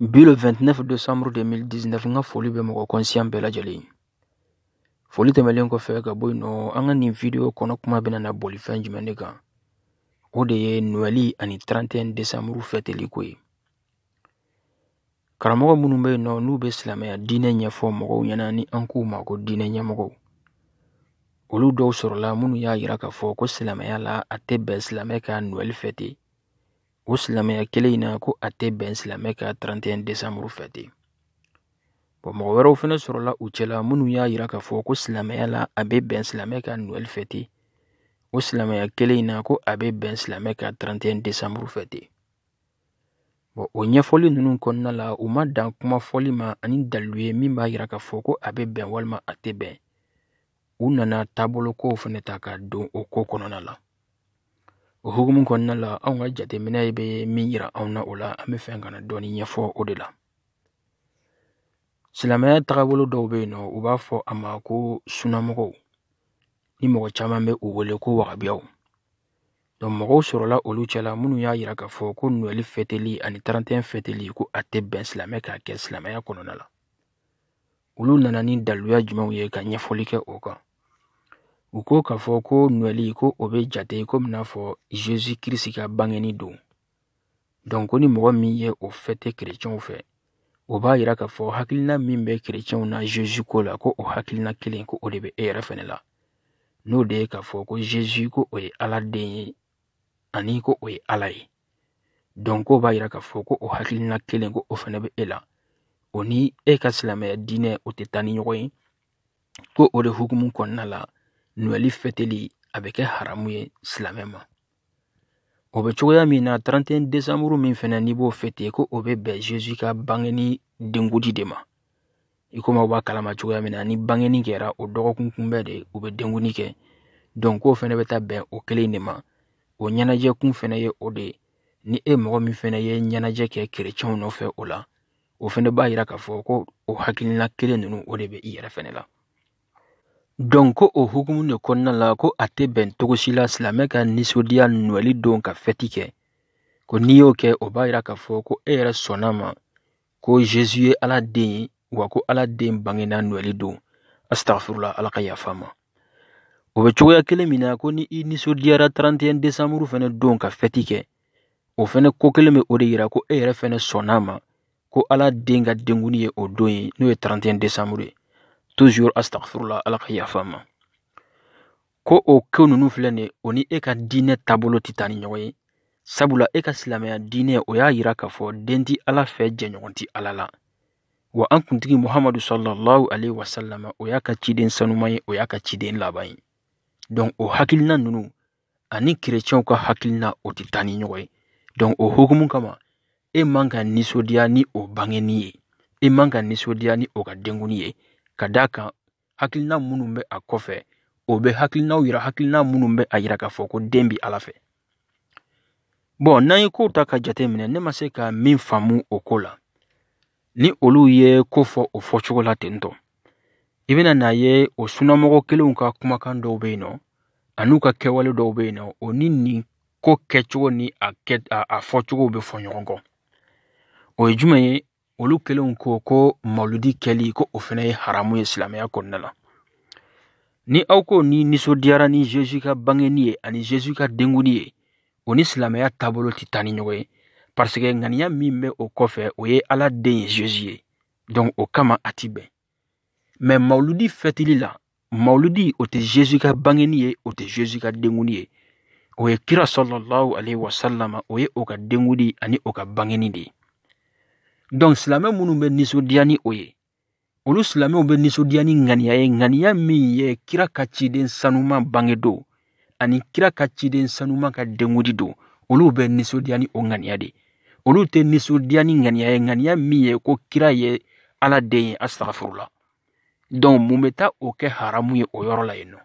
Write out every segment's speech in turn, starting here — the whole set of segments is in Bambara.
bi le 29 décembre 2019 n ka foli bɛ mɔgɔ kɔnsiyan bɛɛ lajɛlen ye foli tɛmɛlen kɔfɛ ka bɔ yen nɔ an ka nin video kɔnɔ kuma bɛna na boli fɛn jumɛn de kan o de ye nɔɛli ani 31 décembre fɛteli ko ye karamɔgɔ minnu bɛ yen nɔ n'u bɛ silamɛya diinɛ ɲɛfɔ mɔgɔw ɲɛna ni an k'u ma ko diinɛ ɲɛmɔgɔw olu dɔw sɔrɔla minnu y'a yira k'a fɔ ko silamɛya la a tɛ bɛn silamɛ ka nɔɛli fɛte o silamɛya kelen in na ko a tɛ bɛn silamɛ ka 31 décembre fɛte bɔn mɔgɔ wɛrɛw fɛnɛ sɔrɔla u cɛla minnu y'a yira k'a fɔ ko silamɛya la a bɛ bɛn silamɛ ka noɛl fɛte o silamɛya kelen in na ko a bɛ bɛn silamɛ ka 31 décembre fɛte bɔn o ɲɛfɔli ninnu kɔnɔna la u ma dan kuma fɔli ma ani daliluya min b'a yira k'a fɔ ko a bɛ bɛn walima a tɛ bɛn u nana taabolo kow fɛnɛ ta ka don o ko kɔnɔna la o hukumu kɔnɔna la anw ka jateminɛ bɛ min yira anw na o la an bɛ fɛ ka na dɔɔni ɲɛfɔ o de la silamɛya tagabolo dɔw bɛ yen nɔ u b'a fɔ a ma ko sunamɔgɔw ni mɔgɔ caman bɛ u wele ko wagabiyaw donc mɔgɔw sɔrɔla olu cɛla minnu y'a yira k'a fɔ ko noɛli fɛteli ani tarantɛn fɛteli ko a tɛ bɛn silamɛ k'a kɛ silamɛya kɔnɔna la olu nana ni daluya jumɛnw ye ka ɲɛfɔli kɛ o kan u ko k'a fɔ ko nɔɛli ko o bɛ jate komi n'a fɔ zezu kirisi ka bangeni don donc ko ni mɔgɔ min ye o fɛte kerecɛnw fɛ o b'a yira k'a fɔ hakilina min bɛ kerecɛnw na zezu ko la ko o hakilina kelen ko o de bɛ e yɛrɛ fɛnɛ la n'o de ye k'a fɔ ko zezu ko o ye ala den ye ani ko o ye ala ye donc k'o b'a yira k'a fɔ ko o hakilina kelen ko o fɛnɛ bɛ e la o ni e ka silamɛya diinɛ o tɛ taa ni ɲɔgɔn ye ko o de hukumu kɔnɔna la nɔɛli fɛteli a bɛ kɛ haramu ye silamɛ ma o bɛ cogoya min na 31 desanburu min fɛnɛ n'i b'o fɛte ko o bɛ bɛn zezu ka bangeni denkundi de ma i komi aw b'a kalama cogoya min na ni bangeni kɛra o dɔgɔkun kunbɛn de u bɛ denkundi kɛ donc k'o fɛnɛ bɛ taa bɛn o kelen de ma o ɲɛnajɛ kun fɛnɛ ye o de ye ni e mɔgɔ min fɛnɛ ye ɲɛnajɛ kɛ kerecɛnw nɔfɛ o la o fɛnɛ b'a yira k'a fɔ ko o hakilina kelen ninnu o de bɛ i yɛrɛ fɛnɛ la donc ko o hukumu de kɔnɔna la ko a tɛ bɛn cogo si la silamɛ ka nisɔndiya nɔɛli don ka fɛti kɛ ko n'i y'o kɛ o b'a yira k'a fɔ ko e yɛrɛ sɔnna a ma ko Jésus ye Ala den ye wa ko Ala den bangena Noël don astagfirula Ala ka yafa an ma o bɛ cogoya kelen min na ko ni i nisɔndiyara 31 décembre fɛnɛ don ka fɛti kɛ o fɛnɛ ko kelen bɛ o de yira ko e yɛrɛ fɛnɛ sɔnna a ma ko Ala den ka denkundi ye o don ye n'o ye 31 décembre ye toujours astagfirula Ala ka yafa an ma ko o ko ninnu filɛ nin o ni e ka diinɛ taabolo tɛ taa ni ɲɔgɔn ye sabula e ka silamɛya diinɛ o y'a yira k'a fɔ den tɛ ala fɛ jɛɲɔgɔn tɛ ala la wa an kuntigi muhamadu salallahu alayhi wasalama o y'a ka ciden sanuman ye o y'a ka ciden laban ye dɔnku o hakilina ninnu ani kerecɛnw ka hakilina o tɛ taa ni ɲɔgɔn ye dɔnku o hukumu kama e man ka nisɔndiya ni o bangenni ye e man ka nisɔndiya ni o ka denkundi ye ka d'a kan hakilina minnu bɛ a kɔfɛ o bɛ hakilinaw yira hakilina minnu bɛ a yira k'a fɔ ko den bɛ ala fɛ bɔn n'an ye kow ta ka jate minɛ ne ma se ka min faamu o ko la ni olu ye ko fɔ o fɔcogo la ten tɔ i bɛna n'a ye o sunnamɔgɔ kelenw ka kumakan dɔw bɛ yen nɔ an'u ka kɛwale dɔw bɛ yen nɔ o ni nin ko kɛcogo ni a fɔcogo bɛ fɔ ɲɔgɔn kɔ o ye jumɛn ye olu kelenw ko ko maludi kɛli ko o fɛnɛ ye haramu ye silamɛya kɔnɔna la ni aw ko n'i nisɔndiyara ni zezu ka bangenni ye ani zezu ka denkundi ye o ni silamɛya taabolo tɛ taa ni ɲɔgɔn ye pariseke ŋaniya min bɛ o kɔfɛ o ye ala den ye zezu ye donc o kama a ti bɛn mɛ mawuludi fɛtili la mawuludi o tɛ zezu ka bangeni ye o tɛ zezu ka denkundi ye o ye kira salallahu alayhi wa salama o ye o ka denkundi ani o ka bangeni de ye donc silamɛ minnu bɛ nisɔndiya ni o ye olu silamɛw bɛ nisɔndiya ni ŋaniya ye ŋaniya min ye kira ka ciden sanuman bangedon ani kira ka ciden sanuman ka denkundi don olu bɛ nisɔndiya ni o ŋaniya de olu tɛ nisɔndiya ni ŋaniya ye ŋaniya min ye ko kira ye ala den ye asitagafurula dɔnku mun bɛ taa o kɛ haramu ye o yɔrɔ la yen nɔ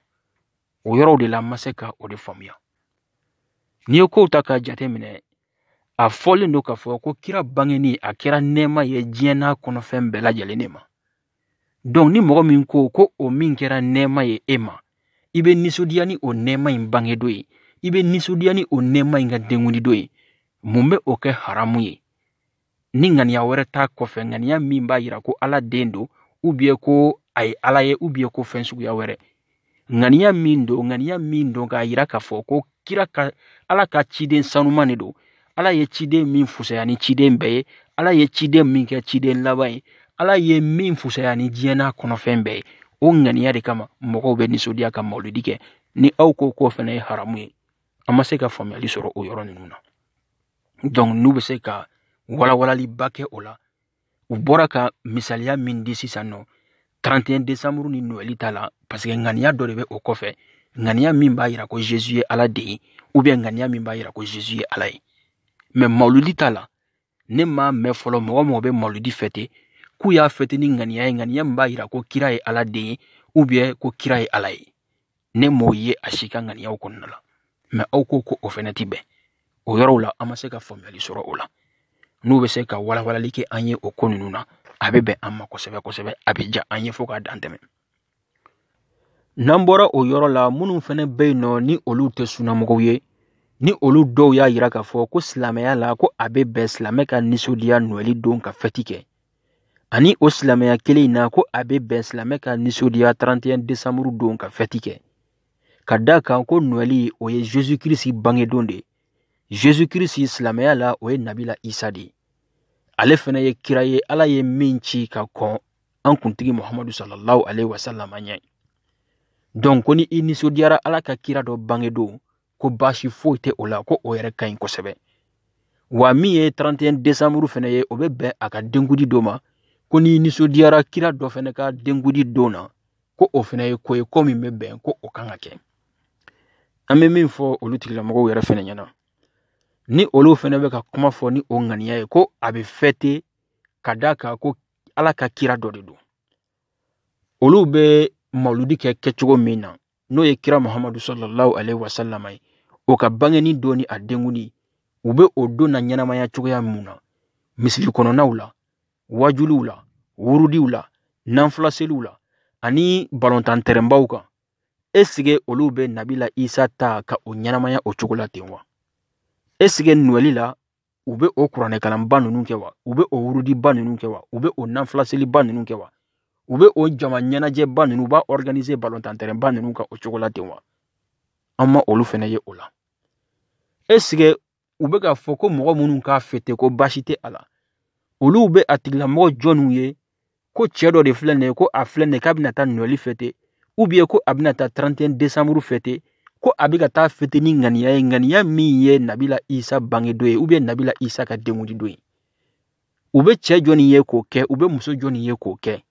o yɔrɔw de la ma se ka o de faamuya n'i ye kow ta k'a jate minɛ a fɔlen don k'a fɔ ko kira bangeni a kɛra nɛɛma ye diɲɛ n'a kɔnɔfɛn bɛɛ lajɛlen de ma dɔnku ni mɔgɔ min ko ko o min kɛra nɛɛma ye e ma i bɛ nisɔndiya ni o nɛɛma in bangedon ye i bɛ nisɔndiya ni o nɛɛma in ka denkundidon ye mun bɛ o kɛ haramu ye ni ŋaniya wɛrɛ t'a kɔfɛ ŋaniya min b'a yira ko ala den don ubiyɛn ko a ye ala ye ubiyɛn ko fɛn suguya wɛrɛ ŋaniya min don ŋaniya min don k'a yira k'a fɔ ko kira ka ala ka ciden sanuman de don ala ye ciden min fusaya ni ciden bɛɛ ye ala ye ciden min kɛ ciden laban ye ala ye min fusaya ni diɲɛ n'a kɔnɔfɛn bɛɛ ye o ŋaniya de kama mɔgɔw bɛ nisɔndiya ka mawuludi kɛ ni aw ko k'o fɛnɛ ye haramu ye an ma se ka faamuyali sɔrɔ o yɔrɔ ninnu na donc n'u bɛ se ka walawalaliba kɛ o la u bɔra ka misaliya min di sisan nɔ 31 desanburu ni nowɛli ta la paseke ŋaniya dɔ de bɛ o kɔfɛ ŋaniya min b'a yira ko zezu ye ala den ye ubiyɛn ŋaniya min b'a yira ko zezu ye ala ye mɛ mawuludi ta la ne m'a mɛn fɔlɔ mɔgɔ o mɔgɔ bɛ mawuludi fɛte k'u y'a fɛte ni ŋaniya ye ŋaniya min b'a yira ko kira ye ala den ye ubiyɛn ko kira ye ala ye ne m'o ye a si ka ŋaniyaw kɔnɔna la mɛ aw ko ko o fɛnɛ ti bɛn o yɔrɔw la an ma se ka faamuyali sɔrɔ o la n'u bɛ se ka walawalali kɛ an ye o ko ninnu na a bɛ bɛn an ma kosɛbɛ kosɛbɛ a bɛ ja an ye fo k'a dan tɛmɛ n'an bɔra o yɔrɔ la minnu fɛnɛ bɛ yen nɔ ni olu tɛ sunnamɔgɔw ye ni olu dɔw y'a yira k'a fɔ ko silamɛya la ko a bɛ bɛn silamɛ ka nisɔndiya nɔɛli don ka fɛti kɛ ani o silamɛya kelen in na ko a bɛ bɛn silamɛ ka nisɔndiya 31 desanburu don ka fɛti kɛ ka da kan ko nɔɛli o ye zezu kirisi bangedon de ye zezu kirisi silamɛya la o ye nabila isa de ye ale fɛnɛ ye kira ye ala ye min ci ka kɔn an kuntigi muhamadu sallallahu alaihi wasallam ɲɛ donc ko ni i nisɔndiyara ala ka kira dɔ bangedon ko baasi foyi tɛ o la ko o yɛrɛ ka ɲi kosɛbɛ wa min ye 31 desanburu fɛnɛ ye o bɛ bɛn a ka denkundi don ma ko n'i nisɔndiyara kira dɔ fɛnɛ ka denkundi don na ko o fana ye ko ye ko min bɛ bɛn ko o kan ka kɛ an bɛ min fɔ olu tigilamɔgɔw yɛrɛ fana ɲɛna ni olu fana bɛ ka kuma fɔ ni o ŋaniya ye ko a bɛ fɛte ka d'a kan ko ala ka kira dɔ de don olu bɛ mawludi kɛ kɛcogo min na n'o ye kira muhamadu sallallahu alaihi wasallam ye o ka bangeni don ni a denkundi u bɛ o don naɲɛnamaya cogoya mun na misiri kɔnɔnaw la waajuliw la wurudiw la nanfilaseliw la ani balontan tɛrɛnbaw kan esige olu bɛ nabila isa ta ka o ɲɛnamaya o cogo la ten wa esige nɔɛli la u bɛ o kuranɛkalanba ninnu kɛ wa u bɛ o wurudiba ninnu kɛ wa u bɛ o nanfilaseliba ninnu kɛ wa u bɛ o jama ɲɛnajɛba ninnu u b'a ɔriganize balontan tɛrɛnba ninnu kan o cogo la ten wa an ma olu fɛnɛ ye o la esike u bɛ k'a fɔ ko mɔgɔ minnu k'a fɛte ko baasi tɛ a la olu bɛ a tigilamɔgɔ jɔnniw ye ko cɛ dɔ de filɛ nin ye ko a filɛ nin ye k'a bɛna taa nɔɛli fɛte ubiyɛn ko a bɛna taa 31 desanburu fɛte ko a bɛ ka taa fɛte ni ŋaniya ye ŋaniya min ye nabila isa bangedon ye ubiyɛn nabila isa ka denkundi don ye u bɛ cɛ jɔni ye k'o kɛ u bɛ muso jɔni ye k'o kɛ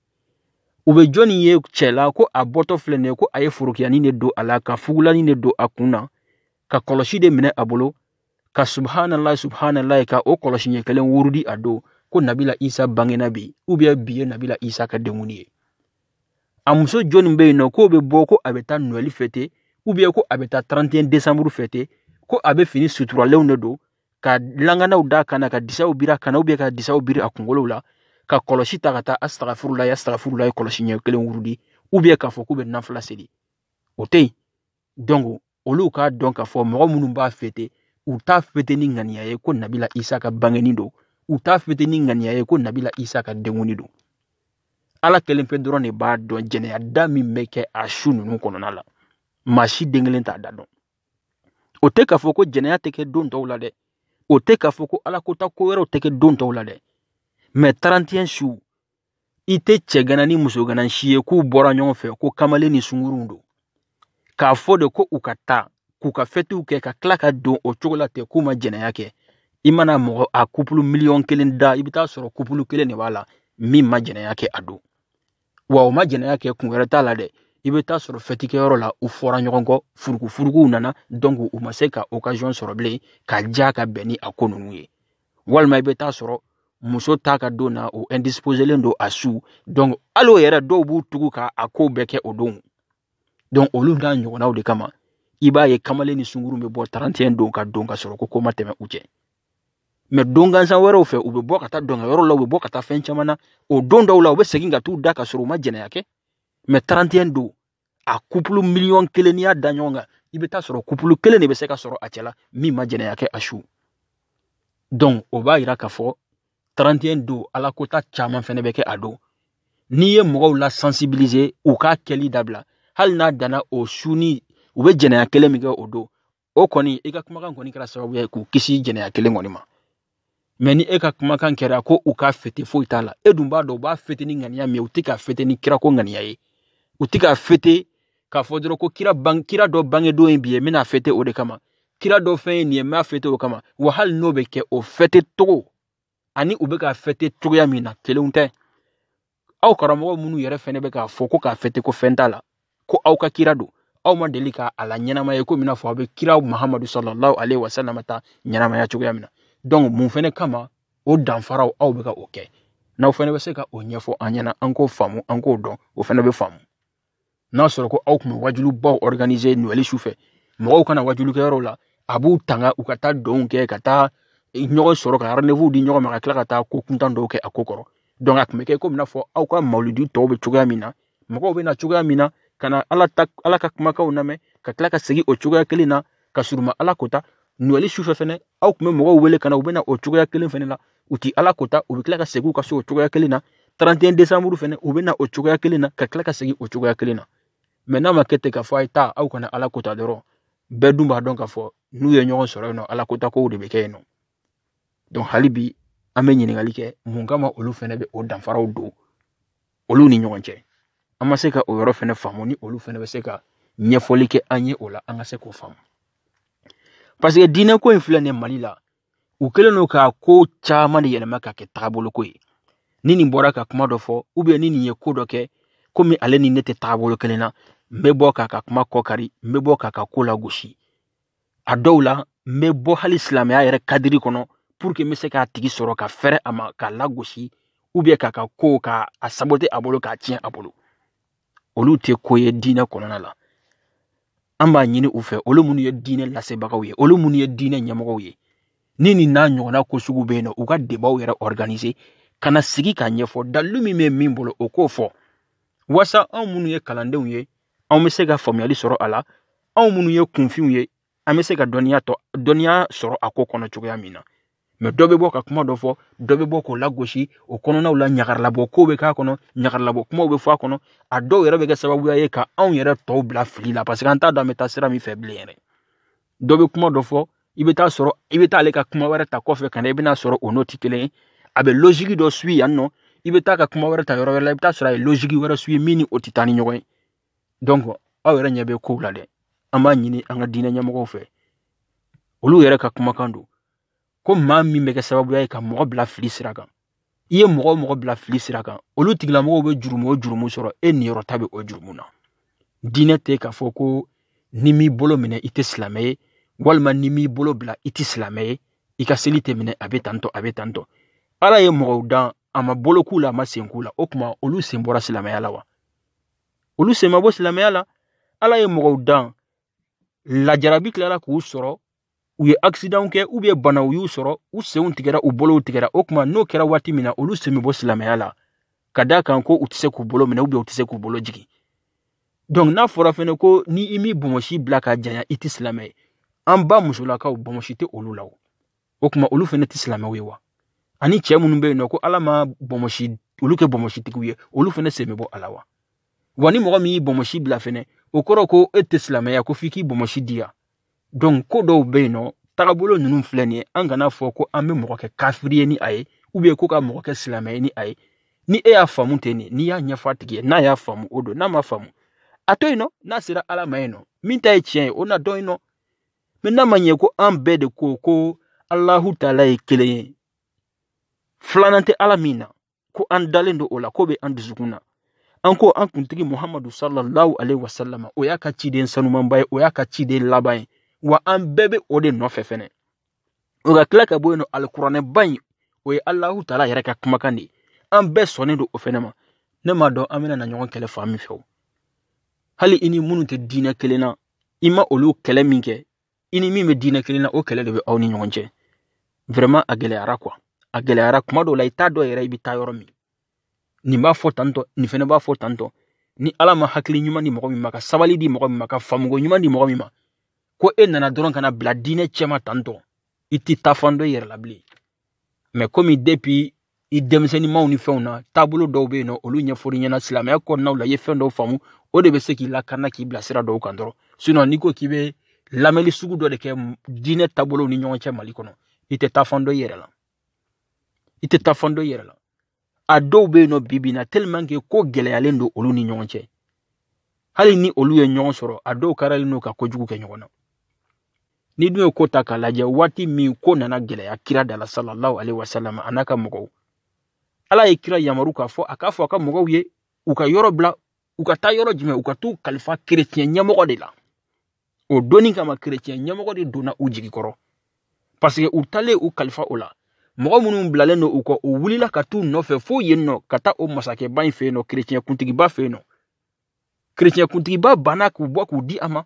u bɛ jɔni ye cɛ la ko a bɔtɔ filɛ nin ye ko a ye forokiyanin de don a la ka fugulanin de don a kun na ka kɔlɔsi de minɛ a bolo ka subhanallah subhanallah ka o kɔlɔsi ɲɛ kelen wurudi a don ko nabila isa bangena bi ubiyɛn bi ye nabila isa ka denkundi ye a muso jɔni bɛ yen nɔ k'o bɛ bɔ ko a bɛ taa nɔɛli fɛte ubiyɛn ko a bɛ taa 31 desanburu fɛte ko a bɛ fini suturalenw de don ka langanaw d'a kan na ka disaw biri a kan na ubiyɛn ka disaw biri a kunkolow la ka kɔlɔsi ta ka taa astagfirullahi astagfirullahi kɔlɔsi ɲɛ kelen wurudi ubiyɛn k'a fɔ k'u bɛ nafila seli o tɛ yen donc olu k'a dɔn k'a fɔ mɔgɔ minnu b'a fete u t'a fete ni ŋaniya ye ko nabila isa ka bangeni don u t'a fete ni ŋaniya ye ko nabila isa ka denkundi don ala kelen pe dɔrɔn de b'a dɔn jɛnɛya da min bɛ kɛ a su ninnu kɔnɔna la maa si den kelen t'a da dɔn o tɛ k'a fɔ ko jɛnɛya tɛ kɛ don tɔw la dɛ o tɛ k'a fɔ ko ala kota ko wɛrɛw tɛ kɛ don tɔw la dɛ mɛ 31 su i tɛ cɛ gana ni muso gana si ye k'u bɔra ɲɔgɔn fɛ ko kamalen ni sunguruw don k'a fɔ de ko u ka taa k'u ka fɛtiw kɛ ka tila ka don o cogo la ten k'u ma jɛnɛya kɛ i mana mɔgɔ a kupulu miliyɔn kelen da i bɛ taa sɔrɔ kupulu kelen de b'a la min ma jɛnɛya kɛ a don wa o ma jɛnɛya kɛ kun wɛrɛ t'a la dɛ i bɛ taa sɔrɔ fɛtikɛyɔrɔ la u fɔra ɲɔgɔn kɔ furukufurukuw nana donc u ma se ka okaziyɔn sɔrɔ bilen ka diya ka bɛn ni a ko ninnu ye walima i bɛ taa sɔrɔ muso ta ka don na o indisposelen don a su donc hali o yɛrɛ dɔw b'u tugu ka a kow bɛɛ kɛ o don donc olu n'a ɲɔgɔnnaw de kama i b'a ye kamalen ni sunguru bɛ bɔ 31 don ka don ka sɔrɔ ko ko ma tɛmɛ u cɛ mɛ don gansan wɛrɛw fɛ u bɛ bɔ ka taa dɔnkɛyɔrɔ la u bɛ bɔ ka taa fɛn caman na o don dɔw la u bɛ segin ka t'u da ka sɔrɔ u ma jɛnɛya kɛ mɛ 31 don a kupulu miliyɔn kelen n'i y'a da ɲɔgɔn kan i bɛ taa sɔrɔ kupulu kelen de bɛ se ka sɔrɔ a cɛla min ma jɛnɛya kɛ a su donc o b'a yira k'a fɔ 31 don ala kota caman fɛnɛ bɛ kɛ a don n'i ye mɔgɔw la sensibiliser u k'a kɛli dabila hali n'a danna o su ni u bɛ jɛnɛya kelen min kɛ o don o kɔni i ka kumakan kɔni kɛra sababu ye k'u kisi jɛnɛya kelen kɔni ma mɛ ni e ka kumakan kɛra ko u k'a fete foyi t'a la e dun b'a dɔn u b'a fete ni ŋaniya min ye u tɛ k'a fete ni kira ko ŋaniya ye u tɛ k'a fete k'a fɔ dɔrɔn ko kira ban kira dɔ bangedon ye bi ye n bɛna fete o de kama kira dɔ fɛn ye nin ye n b'a fete o kama wa hali n'o bɛ kɛ o fete cogo ani u bɛ k'a fete cogoya min na kelenw tɛ aw karamɔgɔ minnu yɛrɛ fɛnɛ bɛ k'a fɔ ko k'a fete ko fɛn t'a la ko aw ka kira don aw ma deli ka a laɲɛnamaya komi i n'a fɔ aw bɛ kira muhamadu sallallahu alaihi wasallam ta ɲɛnamaya cogoya min na donc mun fɛnɛ kama o danfaraw aw bɛ ka o kɛ n'aw fɛnɛ bɛ se ka o ɲɛfɔ an ɲɛna an k'o faamu an k'o dɔn o fɛnɛ bɛ faamu n'a sɔrɔ ko aw tun bɛ wajulibaw organiser noɛli su fɛ mɔgɔw ka na wajulikɛyɔrɔw la a b'u tanga u ka taa dɔnw kɛ ka taa ɲɔgɔn sɔrɔ ka rendez-vous di ɲɔgɔn ma ka tila ka taa ko kuntan dɔw kɛ a ko kɔrɔ donc a tun bɛ kɛ komi n'a fɔ aw ka mawuludi tɔw bɛ cogoya min na mɔgɔw bɛ na cogoya min na ka na ala ta ala ka kumakanw lamɛn ka tila ka segin o cogoya kelen na ka sɔrɔ u ma ala kota noɛli sufɛ fɛnɛ aw tun bɛ mɔgɔw wele ka na u bɛ na o cogoya kelen fɛnɛ la u ti ala kota u bɛ tila ka segin u ka so o cogoya kelen na 31 décembre fɛnɛ u bɛ na o cogoya kelen na ka tila ka segin o cogoya kelen na mɛ n'a ma kɛ ten k'a fɔ a ye taa aw kana ala kota dɔrɔn bɛɛ dun b'a dɔn k'a fɔ n'u ye ɲɔgɔn sɔrɔ yen nɔ ala kota kow de bɛ kɛ yen nɔ donc hali bi an bɛ ɲininkali kɛ mun kama olu fɛnɛ bɛ o danfaraw don olu ni ɲɔgɔn cɛ an ma se ka o yɔrɔ fɛnɛ faamu ni olu fɛnɛ bɛ se ka ɲɛfɔli kɛ an ye o la an ka se k'o faamu paseke diinɛ ko in filɛ nin mali la u kɛlen don ka ko caman de yɛlɛma ka kɛ tagabolo ko ye ni nin bɔra ka kuma dɔ fɔ ubiyɛn ni nin ye ko dɔ kɛ komi ale ni ne tɛ tagabolo kelen na n bɛ bɔ k'a ka kuma kɔ kari n bɛ bɔ k'a ka ko lagosi a dɔw la n bɛ bɔ hali silamɛya yɛrɛ kadiri kɔnɔ puruke n bɛ se k'a tigi sɔrɔ ka fɛrɛ a ma k'a lagosi ubiyɛn k'a ka ko k'a sabote a bolo k'a tiɲɛ a bolo olu tɛ ko ye diinɛ kɔnɔna la an b'a ɲini u fɛ olu minnu ye diinɛ lasebagaw ye olu minnu ye diinɛ ɲɛmɔgɔw ye ni nin n'a ɲɔgɔnna ko sugu bɛ yen nɔ u ka debaw yɛrɛ organise ka na sigi k'a ɲɛfɔ dalilu min bɛ min bolo o k'o fɔ wasa anw minnu ye kalandenw ye anw bɛ se ka faamuyali sɔrɔ a la anw minnu ye kunfinw ye an bɛ se ka dɔnniya sɔrɔ a ko kɔnɔ cogoya min na mɛ dɔ bɛ bɔ ka kuma dɔ fɔ dɔ bɛ bɔ k'o lagosi o kɔnɔnaw la ɲagaralabɔ kow bɛ k'a kɔnɔ ɲagaralabɔ kumaw bɛ fɔ a kɔnɔ a dɔw yɛrɛ bɛ kɛ sababuya ye ka anw yɛrɛ tɔw bila fili la paseke an t'a dɔn an bɛ taa sira min fɛ bilen yɛrɛ dɔ bɛ kuma dɔ fɔ i bɛ taa sɔrɔ i bɛ taa ale ka kuma wɛrɛ ta kɔfɛ ka na i bɛna sɔrɔ o n'o tɛ kelen ye a bɛ losigi dɔ suyi yan nɔ i bɛ taa ka kuma wɛrɛ ta yɔrɔ wɛrɛ la i bɛ taa sɔrɔ a ye losigi wɛrɛ suyi min ni o tɛ taa ni ɲɔgɔn ye donc aw yɛrɛ ɲɛ bɛ kow la dɛ an b'a ɲini an ka diinɛ ɲɛmɔgɔw fɛ olu yɛrɛ ka kumakan don ko maa min bɛ kɛ sababuya ye ka mɔgɔ bila fili sira kan i ye mɔgɔ o mɔgɔ bila fili sira kan olu tigilamɔgɔw bɛ jurumu o jurumu sɔrɔ e niyɔrɔ ta bɛ o jurumu na diinɛ tɛ k'a fɔ ko n'i m'i bolo minɛ i tɛ silamɛ ye walima n'i m'i bolo bila i tɛ silamɛ ye i ka seli tɛ minɛ a bɛ tantɔ a bɛ tantɔ ala ye mɔgɔw dan a ma bolo k'u la a ma sen k'u la o tuma olu sen bɔra silamɛya la wa olu sen ma bɔ silamɛya la ala ye mɔgɔw dan lajarabi tilala k'u sɔrɔ u ye akisidanw kɛ ubiyɛn banaw y'u sɔrɔ u senw tigɛra u bolow tigɛra o tuma n'o kɛra waati min na olu sen bɛ bɔ silamɛya la ka d'a kan ko u tɛ se k'u bolo minɛ ubiyɛn u tɛ se k'u bolo jigin donc n'a fɔra fɛnɛ ko ni i m'i bɔnmɔsi bila ka janya i tɛ silamɛ ye an ba musolakaw bɔnmɔsi tɛ olu la o o tuma olu fɛnɛ tɛ silamɛw ye wa ani cɛ minnu bɛ yen nɔ ko ala ma bɔnmɔsi olu kɛ bɔnmɔsitigiw ye olu fɛnɛ sen bɛ bɔ a la wa wa ni mɔgɔ min y'i bɔnmɔsi bila fɛnɛ o kɔrɔ ko e tɛ silamɛya ko f'i k'i bɔnmɔsi di yan donc ko dɔw bɛ yen nɔ tagabolo ninnu filɛ nin ye an kana fɔ ko an bɛ mɔgɔ kɛ kafiri ye ni a ye ubiyɛn ko ka mɔgɔ kɛ silamɛ ye ni a ye ni e y'a faamu ten nin n'i y'a ɲɛfɔ a tigi ye n'a y'a faamu o don n'a ma faamu a to yen nɔ n'a sera ala ma yen nɔ min ta ye tiɲɛ ye o na dɔn yen nɔ mɛ n'a ma ɲɛ ko an bɛɛ de ko ko alahu taala ye kelen ye filanan tɛ ala min na ko an dalen don o la ko bɛ an dusukun na an ko an kuntigi muhamadu sallallahu alaihi wasallam o y'a ka ciden sanumanba ye o y'a ka ciden laban ye wa an bɛɛ bɛ o de nɔfɛ fɛnɛ o ka tila ka bɔ yen nɔ alikuranɛba in o ye alahu taala yɛrɛ ka kumakan de ye an bɛɛ sɔnnen don o fɛnɛ ma ne m'a dɔn an bɛna na ɲɔgɔn kɛlɛ fan min fɛ o hali i ni minnu tɛ diinɛ kelen na i ma olu kɛlɛ min kɛ i ni min bɛ diinɛ kelen na o kɛlɛ de bɛ aw ni ɲɔgɔn cɛ vraiment a gɛlɛyara quoi a gɛlɛyara kuma dɔw la i t'a dɔn yɛrɛ i bɛ taa yɔrɔ min nin b'a fɔ tantɔ nin fɛnɛ b'a fɔ tantɔ ni ala ma hakili ɲuman di mɔgɔ min ma ka sabali di mɔgɔ min ma ka faamuko ɲuman di mɔgɔ min ma ko e nana dɔrɔn ka na bila diinɛ cɛma tantɔ i tɛ taa fan dɔn i yɛrɛ la bilen mais komi depuis i denmisɛnninmaw ni fɛnw na taabolo dɔw bɛ yen nɔ olu ɲɛfɔli ɲɛna silamɛya kɔnɔnaw la i ye fɛn dɔw faamu o de bɛ se k'i lakana k'i bila sira dɔw kan dɔrɔn sinon n'i ko k'i bɛ lamɛnni sugu dɔ de kɛ diinɛ taabolow ni ɲɔgɔn cɛ mali kɔnɔ i tɛ taa fan dɔn i yɛrɛ la i tɛ taa fan dɔn i yɛrɛ la a dɔw bɛ yen nɔ bi bi in na tellement que ko gɛlɛyalen don olu ni ɲɔgɔn cɛ hali ni olu ye ɲɔgɔn sɔrɔ a dɔw karalen don ka kojugu kɛ ɲɔgɔn na n'i dun ye ko ta k'a lajɛ waati min ko nana gɛlɛya kira da la sallallahu alaihi wasallam a n'a ka mɔgɔw ala ye kira yamaru k'a fɔ a k'a fɔ a ka mɔgɔw ye u ka yɔrɔ bila u ka taa yɔrɔ jumɛn u ka t'u kalifa kerecɛn ɲɛmɔgɔ de la o donni kama kerecɛn ɲɛmɔgɔ de donna u jigi kɔrɔ parce que u taalen u kalifa o la mɔgɔ minnu bilalen don u kɔ u wulila ka t'u nɔfɛ fo yen nɔ ka taa o masakɛba in fɛ yen nɔ kerecɛn kuntigiba fɛ yen nɔ kerecɛn kuntigiba banna k'u bɔ k'u di a ma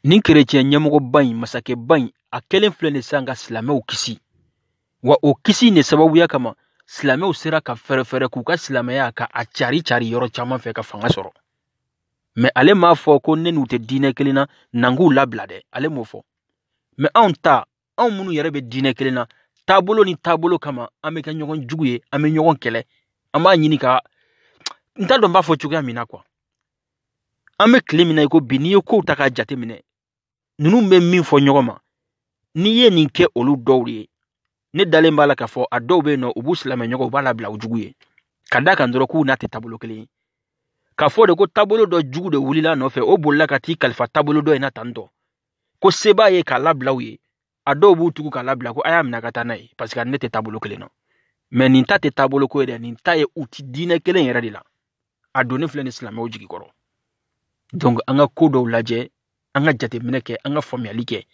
nin kerecɛn ɲɛmɔgɔba in masakɛba in a kɛlen filɛ nin sisan ka silamɛw kisi wa o kisi in sababuya kama silamɛw sera ka fɛrɛfɛrɛ k'u ka silamɛya ka a cari cari yɔrɔ caman fɛ ka fanga sɔrɔ mais ale m'a fɔ ko ne n'u tɛ diinɛ kelen na n'an k'u labila dɛ ale m'o fɔ mais anw ta anw minnu yɛrɛ bɛ diinɛ kelen na taabolo ni taabolo kama an bɛ kɛ ɲɔgɔn jugu ye an bɛ ɲɔgɔn kɛlɛ an b'a ɲini ka n t'a dɔn n b'a fɔ cogoya min na quoi an bɛ tile min na i ko bi n'i ye kow ta k'a jateminɛ ninnu bɛ min fɔ ɲɔgɔn ma n'i ye nin kɛ olu dɔw de ye ne dalen b'a la k'a fɔ a dɔw bɛ yen nɔ u b'u silamɛ ɲɔgɔn u b'a labila u jugu ye ka d'a kan dɔrɔn k'u n'a tɛ taabolo kelen ye k'a fɔ de ko taabolo dɔ jugu de wulila nɔfɛ o bolila ka t'i kalifa taabolo dɔ in na tantɔ ko se b'a ye k'a labila u ye a dɔw b'u tugu k'a labila ko a y'a minɛ ka taa n'a ye parce que a ni ne tɛ taabolo kelen na mais nin ta tɛ taabolo ko ye dɛ nin ta ye u ti diinɛ kelen yɛrɛ de la a donnen filɛ nin silamɛw jigi kɔrɔ donc an ka ko dɔw lajɛ an ka jateminɛ kɛ an ka faamuyali kɛ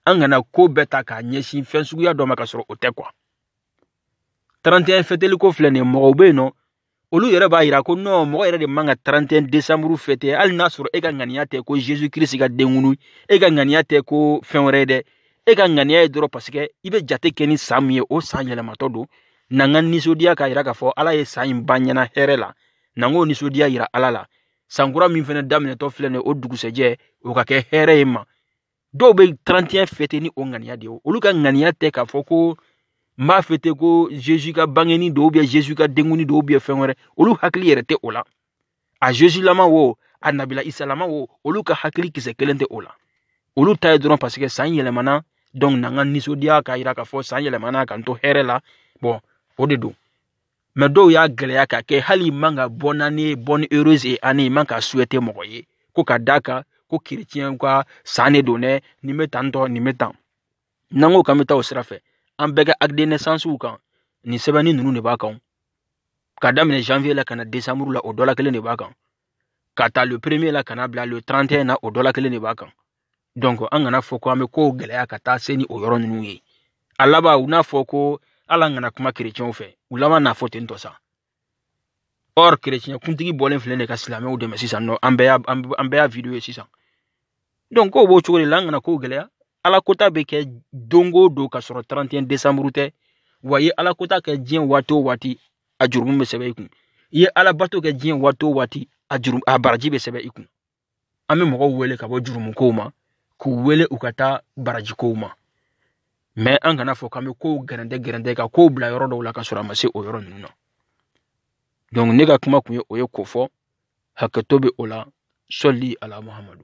an kana ko bɛɛ ta k'a ɲɛsin fɛn suguya dɔ ma ka sɔrɔ o tɛ quoi 31 fɛteliko filɛ nin ye mɔgɔw bɛ yen nɔ olu yɛrɛ b'a yira ko nɔ mɔgɔ yɛrɛ de man ka 31 desanburu fete hali n'a sɔrɔ e ka ŋaniya tɛ ko jesu kirisi ka denkunu e ka ŋaniya tɛ ko fɛn wɛrɛ ye dɛ e ka ŋaniya ye dɔrɔn paseke i bɛ jate kɛ ni san min ye o san yɛlɛmatɔ don n'an ka nisɔndiya k'a yira k'a fɔ ala ye san in ban ɲɛna hɛrɛ la n'an k'o nisɔndiya yira ala la sankura min fɛnɛ daminɛtɔ filɛ nin ye o dugusɛjɛ o ka kɛ hɛrɛ ye ma dɔw bɛ 31 fete ni o ŋaniya de ye olu ka ŋaniya tɛ k'a fɔ ko n b'a fete ko zezu ka bangeni don ubiyɛn zezu ka denkundi don ubiyɛn fɛn wɛrɛ olu hakili yɛrɛ tɛ o la a zezulama wo a nabila isalama wo olu ka hakili kisɛ kelen tɛ o la olu ta ye dɔrɔn paseke san yɛlɛmana dɔnku n'an ka nisɔndiya k'a yira k'a fɔ san yɛlɛmana k'an to hɛrɛ la bɔn o de don mɛ dɔw y'a gɛlɛya k'a kɛ hali man ka bonne année bonne heureuse année man ka souhaiter mɔgɔ ye ko ka d'a kan ko kerecɛnw ka san de don dɛ nin bɛ tan tɔ nin bɛ tan n'an ko k'an bɛ taa o sira fɛ an bɛɛ ka acte de naissance kan nin sɛbɛnni ninnu de b'a kan k'a daminɛ janvier la ka na décembre la o dɔ la kelen de b'a kan k'a ta le premier la ka n'a bila le 31 na o dɔ la kelen de b'a kan donc an kana fɔ ko an bɛ kow gɛlɛya ka taa se ni o yɔrɔ ninnu ye a laban u n'a fɔ ko ala an kana kuma kerecɛnw fɛ u laban n'a fɔ ten tɔ sa or kerecɛn kuntigi bɔlen filɛ nin ka silamɛw dɛmɛ sisan nɔ an bɛɛ y'a an bɛɛ y'a video ye sisan donc kow b'o cogo de la an kana kow gɛlɛya ala kota bɛ kɛ don o don ka sɔrɔ 31 décembre tɛ wa i ye ala kota kɛ diɲɛ waati o waati a jurumu bɛ sɛbɛn i kun i ye ala bato kɛ diɲɛ waati o waati a juru a baraji bɛ sɛbɛn i kun an bɛ mɔgɔw wele ka bɔ jurumukow ma k'u wele u ka taa barajikow ma mɛ an kana fɔ k'an bɛ kow gɛrɛntɛ gɛrɛntɛ ka kow bila yɔrɔ dɔw la ka sɔrɔ a ma se o yɔrɔ ninnu na donc ne ka kuma kun ye o ye ko fɔ hakɛto bɛ o la sɔli ala muhamadu